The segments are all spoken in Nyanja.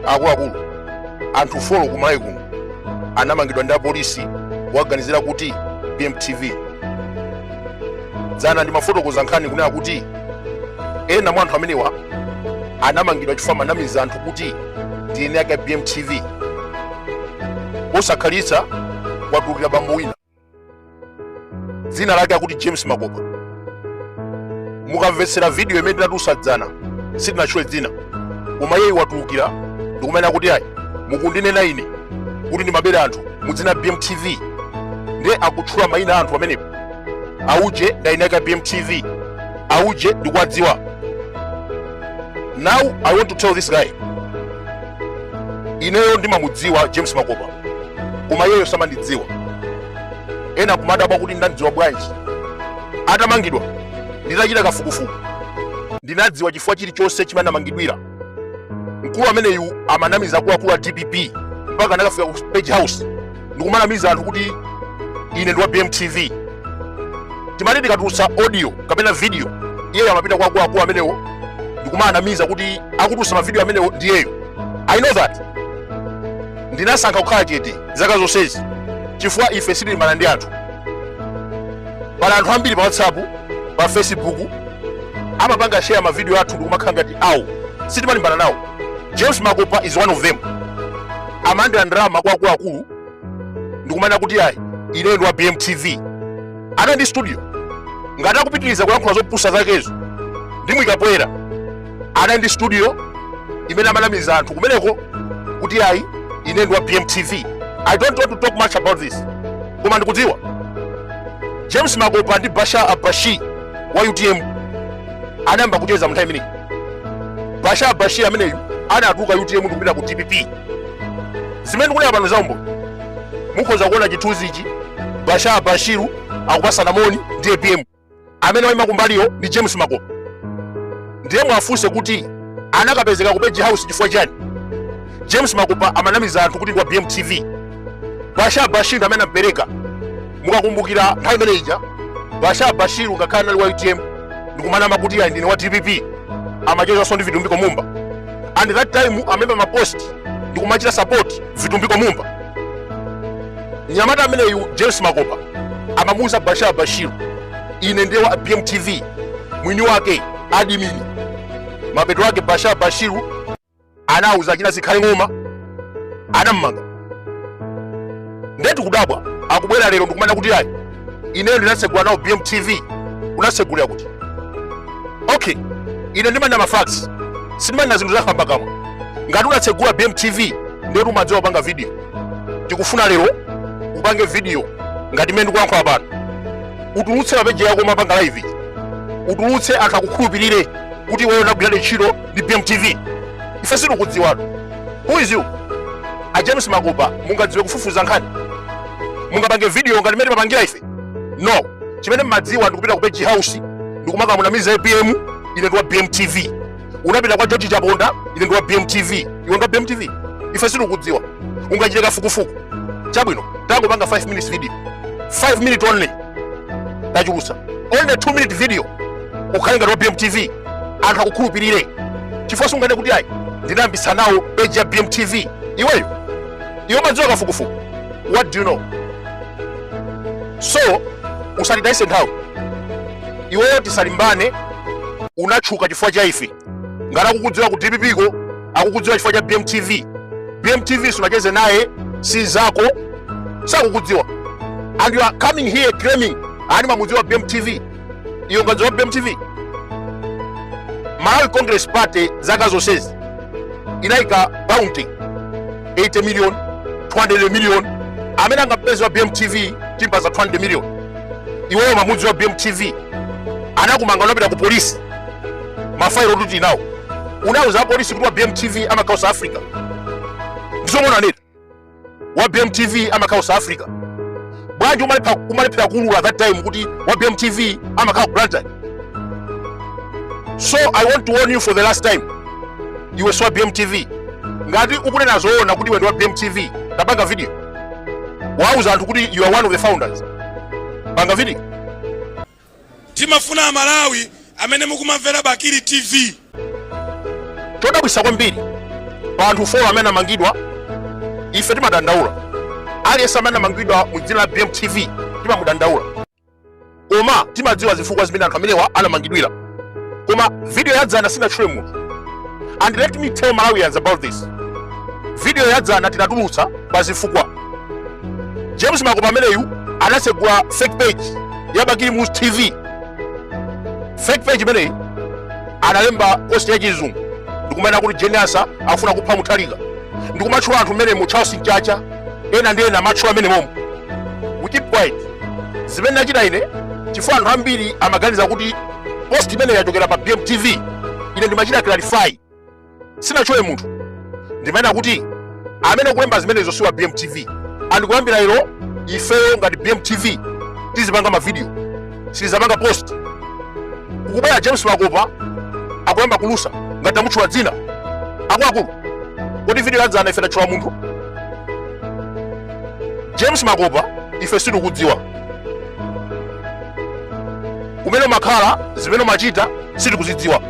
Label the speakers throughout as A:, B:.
A: akuluakulu anthu folo kumalawi kuno anamangidwa ndi apolisi powaganizira kuti ndi bmtv dzana ndimafotokoza nkhani kunena kuti ena mwa anthu amenewa anamangidwa chifukwa amanamiza anthu kuti ndi eni ake a bmtv posakhalitsa kwatulukira bambo wina dzina lake akuti james makopa mukamvetsera vidiyo imene tinatulutsa dzana sitinatchule dzina koma iyeyi watulukira ndikumanena kuti ayi mukundinena ine kuti ndimabera anthu mudzina la bmtv nde akutchula mayina a anthu pamenepo auje ndi eni ake a bmtv auje ndikuwadziwa now i want to tell this guy ineyo ndimamudziwa james makopa koma iyeyo samandidziwa ena akumadabwa kuti ndinamdziwa bwanji atamangidwa nditachita kafukufuku ndinadziwa chifukwa chilichonse chimene anamangidwira mkulu ameneyu amanamiza akuluakulu a dpp mpaka anakafika ku page house ndikumanamiza anthu kuti ine ndi wa bmtv timati tikatulutsa audio kapena video iyeyo amapita kwa akuluakulu amenewo ndikumawanamiza kuti akutulutsa mavidiyo amenewo ndiyeyo i know that ndinasankha kukhala chete zaka zonsezi chifukwa ife sitilimbana ndi anthu pali anthu ambiri pa whatsapp pa facebook amapanga share mavidiyo athu ndikumakhala ngati awo sitimalimbana nawo james makopa is one of them amalandira ndalama kwa akuluakulu ndikumanena kuti ayi ineyo ndi wa bmtv anali ndi studio ngati akupitiriza kulankhula zopusa zakezo ndimuyikapoyera anali ndi studio imene amanamiza anthu kumeneko kuti ayi ine ndi wa bmtv i don't want to talk much about this koma ndikudziwa james makopa ndi bashar al bashir wa utm anayamba kucheza mu nthawi imeneyi bashar al bashir ameneyu anatuluka utm ndi kupita ku dpp zimene ndikunena pano zaumboni mukhoza kuona chithunzi ichi bashar al bashir akupatsana moni ndi apm amene waima kumbaliyo ndi James Makopa ndiye muwafunse kuti anakapezeka ku page house chifukwa chani James Makopa amanamiza anthu kuti ndi wa BMTV Bashar al Bashir ndi amene anampereka mukakumbukira nthawi imene ija Bashar al Bashir ngakhale anali wa UTM ndikumanama kuti ayi ndine wa DPP amachezanso ndi Vitumbiko Mumba and that time amalemba mapost ndikumachita support Vitumbiko Mumba mnyamata ameneyu james makopa amamuuza bashar al bashir ine ndi wa bmtv mwini wake adimini mapeto ake bashar al bashir anauza achina zikhale ng'oma anammanga nde tikudabwa akubwera lero ndikumanena kuti ayi ineyo ndinatsegula nawo bmtv unatsegulira kuti okay ine ndimanena mafacts sindimanena zinthu zakhamba kamwa ngati unatsegula bmtv ndetu umadziwa kupanga video tikufuna lero upange video ngati mmene ndikulankhula pano utulutse mapeji yako umapanga live utulutse anthu akukhulupirire kuti iweyo unagwiradi ntchito ndi bmtv ife sitikudziwatu who is you a james makopa mungadziwe kufufuza nkhani mungapange video ngati mmene timapangira ife no chimene mmadziwa ndikupita ku page house ndikumakamunamiza apm ine ndiwa bmtv unapita kwa george chaponda ine ndiwa bmtv iwe ndiwa bmtv ife sitikudziwa ungachite kafukufuku chabwino tangopanga 5 minutes video 5 minute only tachulutsa only 2 minute video ukhale ngati wa bmtv anthu akukhulupirire chifukwa sunganene kuti ayi ndinayambisa nawo page ya bmtv iweyo iwe umadziwa kafukufuku what do you know so usatitayise nthawi iweyo tisalimbane unatchuka chifukwa cha ife ngati akukudziwa ku dpp ko akukudziwa chifukwa cha bmtv bmtv sunacheze naye si zako sakukudziwa and you are coming here claiming ayi mamudziwa bmtv iwe ungadziwe bmtv malawi congress party zaka zonsezi inayika bounty 80 million 200 million amene angampeze wa bmtv timpatsa 200 million iweyo umamudziwa bmtv anakumanga unapita ku polisi mafayilo tuti nawo unauza apolisi kuti wa bmtv amakhala south africa ndizomwe unanena wa BMTV amakhala South Africa bwanji umalephera kuulula that time kuti wa BMTV amakhala ku Blantyre so I want to warn you for the last time iwe si wa BMTV ngati ukunena zoona kuti iwe ndi wa BMTV tapanga video uwauze anthu kuti you are one of the founders panga video
B: Timafuna amalawi amene mukumamvera bakili
A: tv. Chodabwisa kwambiri pa anthu 4 amene anamangidwa ife timadandaula. Aliyense amene anamangidwa mu dzina la BMTV timamudandaula. Koma timadziwa zifukwa zimene anthu amenewa anamangidwira. Koma video ya dzana sinatchule munthu. And let me tell Malawians about this. Video ya dzana tinatulutsa pa zifukwa. James Makopa ameneyu anasegula fake page ya bakili muluzi tv fake page imeneyi analemba posti ya chizungu ndikumanena kuti jeniasa afuna kupha muthalika ndikumatchula anthu mmenemo charles mchacha ena ndi ena amatchula mmenemo we keep quiet zimene ndachita ine chifukwa anthu ambiri amaganiza kuti post imeneyi yachokera pa bmtv ine ndimachita clarify sinatchule munthu ndimanena kuti amene akulemba zimenezo siwa bmtv and kuyambira ilo ifeyo ngati bmtv tizipanga mavidiyo sitizapanga post kukubaya james makopa akuyamba kulusa ngati tamutchula dzina akuluakulu kodi vidiyo yadzana ife tatchula munthu james makopa ife sitikudziwa kumene umakhala zimene umachita sitikuzidziwa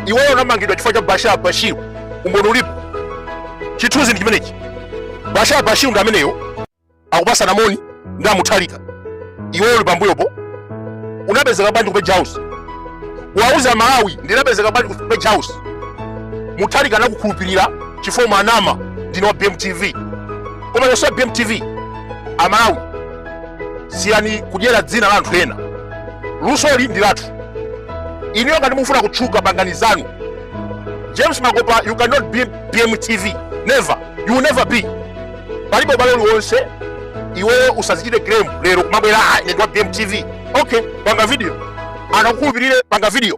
A: iweyo unamangidwa chifukwa cha bashar bashir umboni ulipo chithunzi ndi chimenechi bashar bashir ndi ameneyo akupatsana moni ndi amutharika iweyo uli pambuyopo unapezeka bwanji ku page house wauze amalawi ndinapezeka bwanji ku page house mutharika anakukhulupirira chifukwa umanama ndine wa bmtv koma sowa bmtv amalawi siyani kudyera dzina la anthu ena lusoli ndi lathu inuyo ngati mufuna kutchuka pangani zanu james makopa you cannot be bmtv never you will never be palibe ubale uliwonse iweyo usazichite claim lero kumabwera "Ah, ine ndi wa bmtv okay panga video anthu akukhulupirire panga video